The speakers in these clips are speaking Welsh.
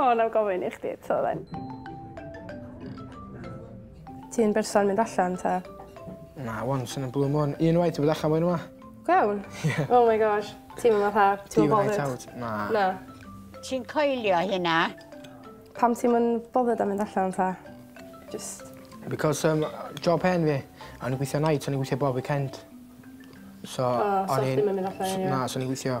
O, na gofyn i chdi eto then. Ti'n berson mynd allan ta? Na, once yn y blue moon. Un waith i bod allan mwyn yma. Gwewn? Yeah. Oh my gosh. Ti'n mynd fatha, ti'n mynd bothered? out. Na. Na. Ti'n coelio hynna? Pam ti'n mynd bothered am mynd allan ta? Just... Because um, job hen fi, a ni'n gweithio night, a ni'n gweithio bob weekend. So, oh, so chdi'n mynd allan? Na, so ni'n gweithio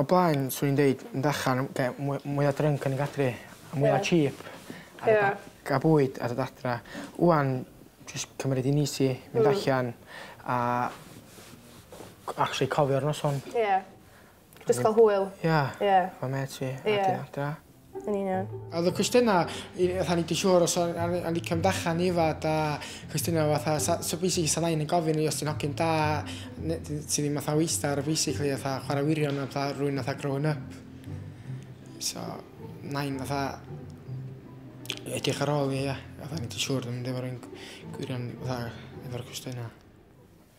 O blaen swn i'n deud mynd allan am ge- mwy mwya drunk yn y gaffi a mwya cheap. Ie. A ca'l bwyd a dod adra. Ŵan jyst cymryd hi'n easy mynd allan a c- actually cofio'r noson. Ie. Jyst ca'l hwyl. Ia. Ia. Efo mêts fi. Ia. A dod adra. Yn union. A oedd y cwestiynau, fatha ni di siŵr os o'n licio mynd allan i fad a cwestiynau fatha, sa, so basically sa nain yn gofyn i os ti'n hogyn da, ti ddim fatha weistar basically fatha chwarae wirion a fatha rwy'n fatha growing up. So, nain fatha edrych ar ôl i, ia, fatha ni di siŵr ddim mynd efo'r un gwirion fatha efo'r cwestiynau.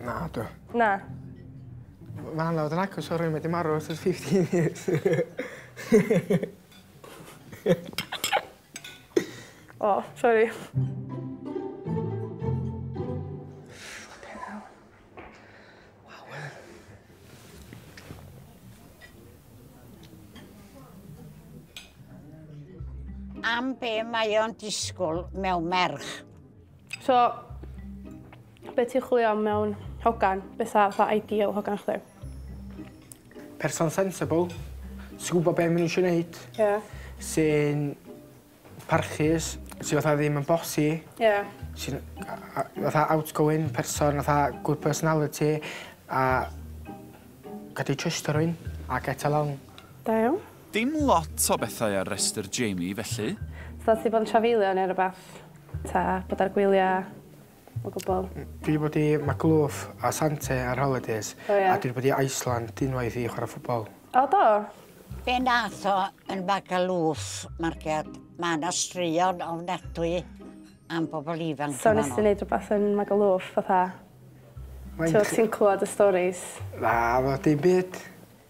Na, dw. Na. Mae hwnna fod yn agos o rhywun wedi marw ers 15 years. o, oh, sori. am be mae o'n disgwyl mewn merch. So, be ti'n chwilio am mewn hogan? Be sa fatha ideal hogan chdi? Person sensible, sy'n gwybod beth maen nhw eisiau gwneud. Ie. Yeah. Sy'n parchus, sy'n fatha ddim yn bossy. Ie. Yeah. Sy'n fatha outgoing person, fatha good personality, a gadi trust rwy'n, a get along. Da iawn. Dim lot o bethau ar restr Jamie felly. So ti bod yn trafeilio neu rwbath? Ta bod ar gwylia o gwbwl? Dwi bod i Magaluf a Sante ar holidays. O ia? A dwi bod i Iceland unwaith i chwara ffwbol. O do? Be nath o yn Magaluf market? Ma na straeon ofnadwy am bobl ifanc yn fanno. So nes ti neud rwbath yn Magaluf fatha? Ti'n clwad y storis? Na, wel dim byd.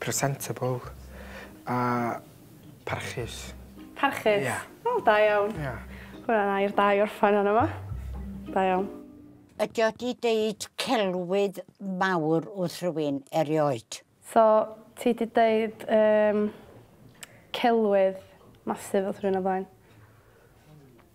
Presentable a parchus. Parchus? Ia. O, da iawn. Ia. Hwnna'n air da i orffan arno fo. Da iawn. Ydy o 'di deud celwydd mawr wrth rywun erioed? So, ti 'di deud um, celwydd massive wrth rhywun o flaen?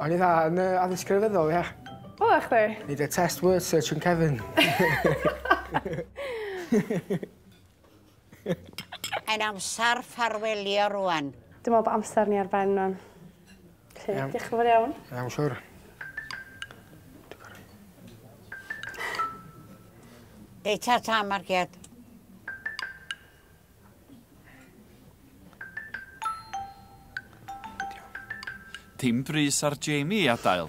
O'n i'n dda yn yy addysg grefyddol ia? Oddach chdi? Neud y test word search yn cefn. Mae'n amsar ffarwelio rŵan. Dwi me'wl bo' amser ni ar ben rŵan. Felly Iawn. dioch yn fowr iawn. Iawn siŵr. Reit ta ta Marciad. Dim brys ar Jamie i adael.